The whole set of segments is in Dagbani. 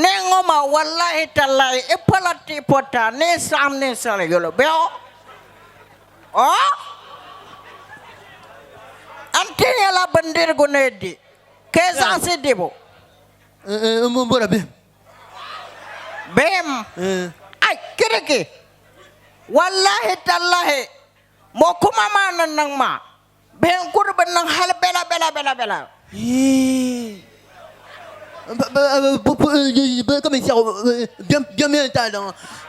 Neei ŋɔ maa wallahi tallahi i pola ti pota ni i saɣim ninsali yolo bɛ o o n ti nyɛla bindirigu ni di ka i zaɣisi dibu n m bɔra bihim bihim ai kiriki wallahi tallahi mɔ kuma maa ni niŋ maa Bihi n kuri bi niŋ hali bela bela bela bela. Ka mi sɛɣu bem yɛn daa niŋ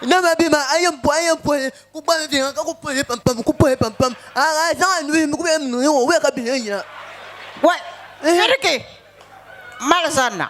nama bihi maa a yɛn pɔhi a yɛn pɔhi ku gba di ka ku pɔhi pam pam ku pɔhi pam pam a a zaŋ a nuhi mi ku yɛn niŋ o wee ka bihi yɛn yina. Wɛ piriki mali zanna.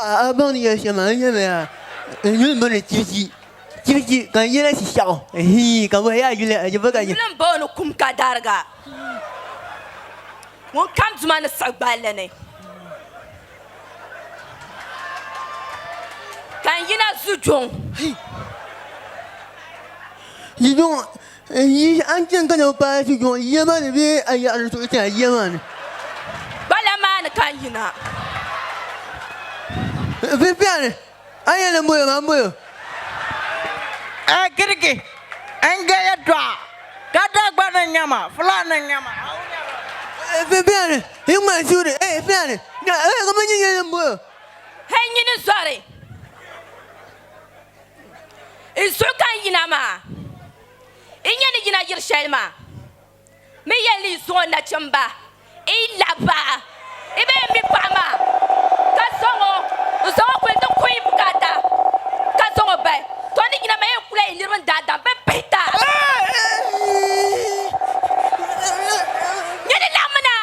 A baŋ ni yɛli shɛm a ni yɛli ya n yuli n bɔni chichi chichi ka n yɛla shishɛɣu hii ka bɔhi ya yuli a jɛba ka yuli n bɔni kum ka dariga ŋun kam duma ni siɣi gballi ni ka n yina zujuŋ zujuŋ N yi a ni chani ka na paai ti jɔŋ yiya maa ni bee a yaɣiri di suɣu ti a yiya maa ni? Gbala maa ni ka n yina. Vivian, A yɛn lahi boli o maa m-boli o. A Girigi, N je yɛtɔɣa, ka Dagbani n-nyɛ ma, Fulani n-nyɛ ma. Vivian, Yi ŋmani suhuri, eei Fulani, kamani n yɛn lahi boli o. Hei nyini zɔri. N suhu ka n yina maa, n nya ni yina yiri shɛli maa mi yɛn lee suŋ o nachimba n lahi bahi i bee n mi paɣa maa ka zaŋ o n zaŋ o kuli ti kuhi n bukaata ka zaŋ o bahi. Tɔ! Ni yina maa yɛn kula yi niriba n daadam bɛ pihita. Nya ni laɣimina!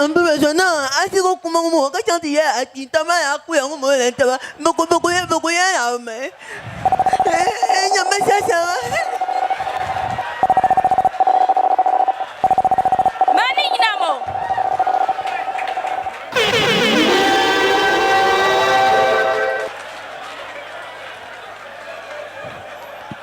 n bi so niŋ asigu kuma ŋɔ moo ka chaŋ ti yɛ achiinta maa yaa kuya ŋɔ moo lan taba bi ku bi ku yɛ bi ku yɛ naɣi mi n nyɛ bi sa shɛŋa maa ni yina mo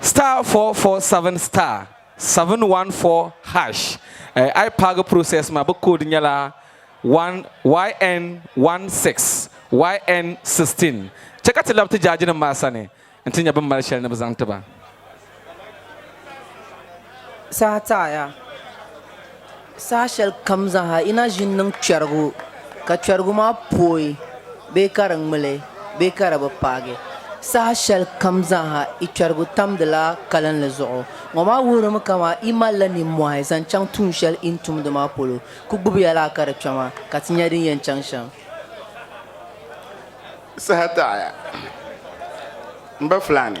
Star four four seven star seven one four hash eh, a yi paagi process maa bi code nyɛla one yn one six yn sixteen chɛ ka ti labi ti jaaji nim maa sani n ti nya bin mali shɛli ni bi zaŋ ti ba. Saha taɣiya. Saha shɛli kam zaaha yi na ʒini niŋ kpɛrigu, ka kpɛrigu maa pooi bee ka di ŋmili bee ka di bi paagi, saha shɛli kam zaaha yi kpɛrigu tamdila kalinli zuɣu. Ŋɔ maa wuhirimi ka amaa yi malila nimmɔhi zaŋ chaŋ tuun shɛli yi ni tumdi maa polo, ku gbubiya laa ka di kpɛma, ka ti nya din yɛn chaŋ shɛm. Saha taɣiya, m ba Fulani.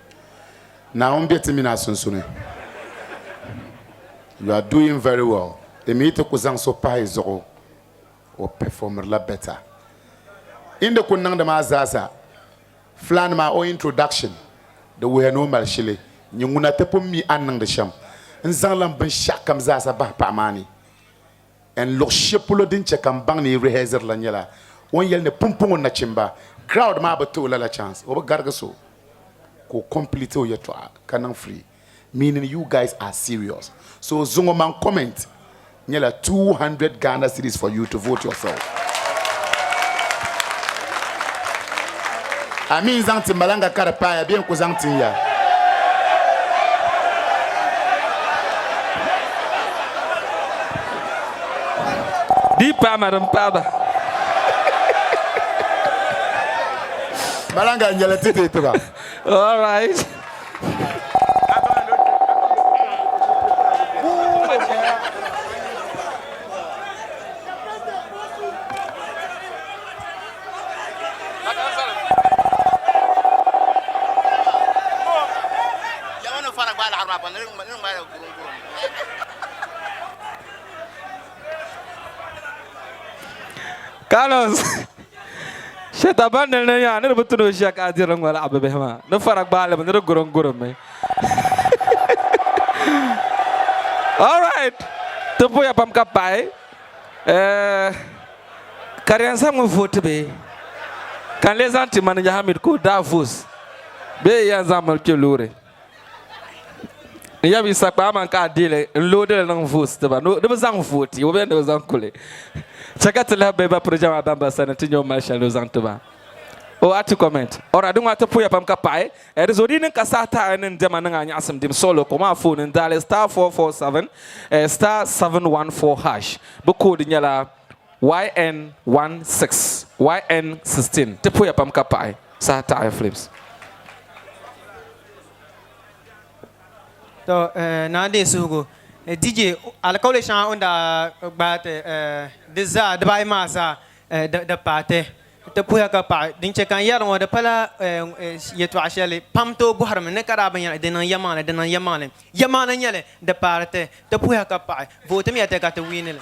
Naawuni be ti mini a sunsuni. You are doing very well di mi ti ku zaŋ so pahi zuɣu o performrila better in di ku niŋdi maa zaasa Flan maa o introduction di wuhiya ni o mali shili nyin ŋuna ti pun mi a ni niŋdi shem n zaŋ lan binshekam zaasa bahi paɣa maa ni. N luɣ shɛli polo din chɛ ka n baŋ ni yi rihɛziri la nyɛla o ni yɛli ni pumpɔŋɔ nachimba crowd maa bi ti o lala chance o bi garigi so ka o complete o yɛtɔɣa ka niŋ free meaning you guys are serious so zuŋɔ man comment nyɛla 200 Ghana cedis for you to vote yourself. a mi n-zaŋ ti malaŋga ka di paai a bee n-ku zaŋ tin ya? Di yi paai ma di m-paai ba. Malaŋga n-nyɛ li ti deei ti ba. All right. Carlos shɛta ban ni ni yaa ni di bi tuni o ʒiya ka a diri ŋɔ laɣa bi bihi maa ni fara gbaali mi ni di gurim gurim mi all right ti puya pam ka pahi eh, ka di yɛn zaŋmi vooti bee ka n lee zaŋ ti Manija Hamid ka o daa voos bee yɛn zaŋ mali kpɛ loori n yab yi sa kpaa man ka a deeli n loodili niŋ voos tiba ni di bi zaŋ vooti o bee ni bi zaŋ kuli chɛ ka ti lahi bahi ba piri jɛma bamban sani ti nyɛ o mali shɛli ni o zaŋ ti ba o ati kɔmɛnt ɔra di ŋɔ ati puhiya pam ka paɣi Di zo di ni ka saha taɣi ni n dɛma niŋ a nyaɣisim dim sɔɣilo kom a fooni ni daali star four four seven star seven one four hash. Bɛ koodi nyɛla YN one six YN sixteen. Ti poya pam ka paɣi saha taɣi flips. To naa deei suhigu DJ alikauli shɛŋa o ni daa gbaai ti di zaa dibaayi maa zaa di paai ti. N ti puhiya ka paɣi, din chɛ ka n yɛri ŋɔ di pala yɛtɔɣ shɛli pam tooi bɔhirimi ni ka daa bi nya li, di niŋ yɛlimaŋli, di niŋ yɛlimaŋli, yɛlimaŋli n-nyɛ li, di paari ti, ti puhiya ka paɣi, vootimiya ti ka ti wiini li.